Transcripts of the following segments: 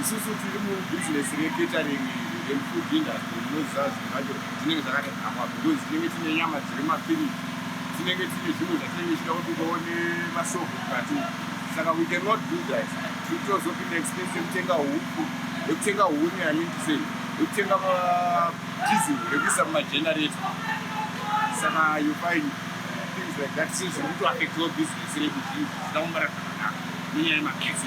Isusu tiri mubhizinesi recatering and food industry munoziva zvinhu zvacho zvinenge zvakatadzakwa because tinenge tine nyama dziri mafiriji tinenge tine zvinhu zvatinenge tichida kuti ukawo nemashopu mukati saka we cannot do that titozopinda expense yekutenga huku yekutenga huni amiti sei yekutenga madizil rekuisa mumagenerator saka you find things like that sezviri kutoaffectawo business redu zvinhu zvisina kumbara zvakanaka nenyaya yemagesi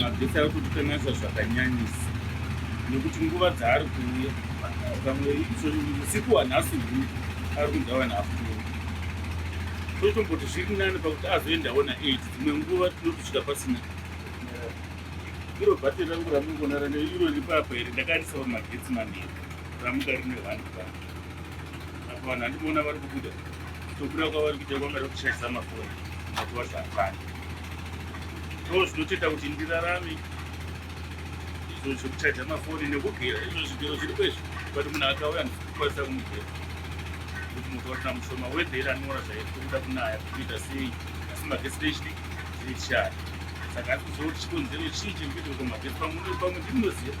mabhesi ari kutikanganisa zvakanyanyisa nekuti nguva dzaari kuuya pamwe usiku wanhasi hu ari kundawa naafuturo totomboti zviri nani pakuti azoendawo naeit dzimwe nguva tinotisvika pasina iro bhatiri rangu ramungoona rane iro ripapa here ndakaendisa pamagetsi manhiri ramuka rine vanhu vanhu apa vanhu handimoona vari kubuda Kutobuda kwavari kuita kwanga rekuchaisa mafoni mazuva zvaakwana ndoo zvinotoita kuti ndirarame izvo zvekuchaja mafoni nekugera izvo zvigero zviri kwezvo but munhu akauya ndikukwanisa kumugera kuti moto watina mushoma wedhera anora zvairi kuda kunaya kuita sei asi magesi nechidi zviri chishaya saka ari kuzotichikonzero chii chekuita kwamagesi pamwe pamwe ndimnoziva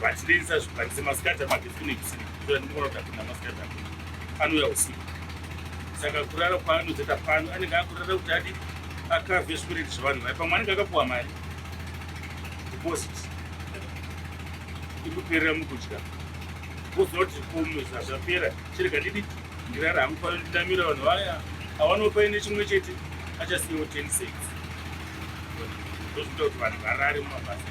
vachitengesa zvipanzi masikati amagetsi kune kusiri kutora ndinoona kuti hakuna masikati ako anouya usiku saka kurara kwaanozoita pano anenge akurara kuti adi akave zvikureti zvevanhu vai pamwe anenge akapuwa mari deposit ikuperera mukudya kuziva kuti kumisa zvapera chirega ndidi ndirara hangu pano ndidamira vanhu vaya avanopa ine chimwe chete achasiyawo 10 6 ndozvinoita kuti vanhu varare mumabasa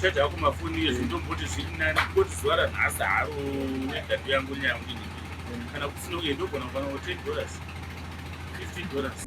chaja ako mafoni ezvo ndomboti zviri nani koti zuva ranhasi haro wedhatu yangu nyaya yangu ini kana kusina uye ndogona kuvana wo 10 dollars 15 dollars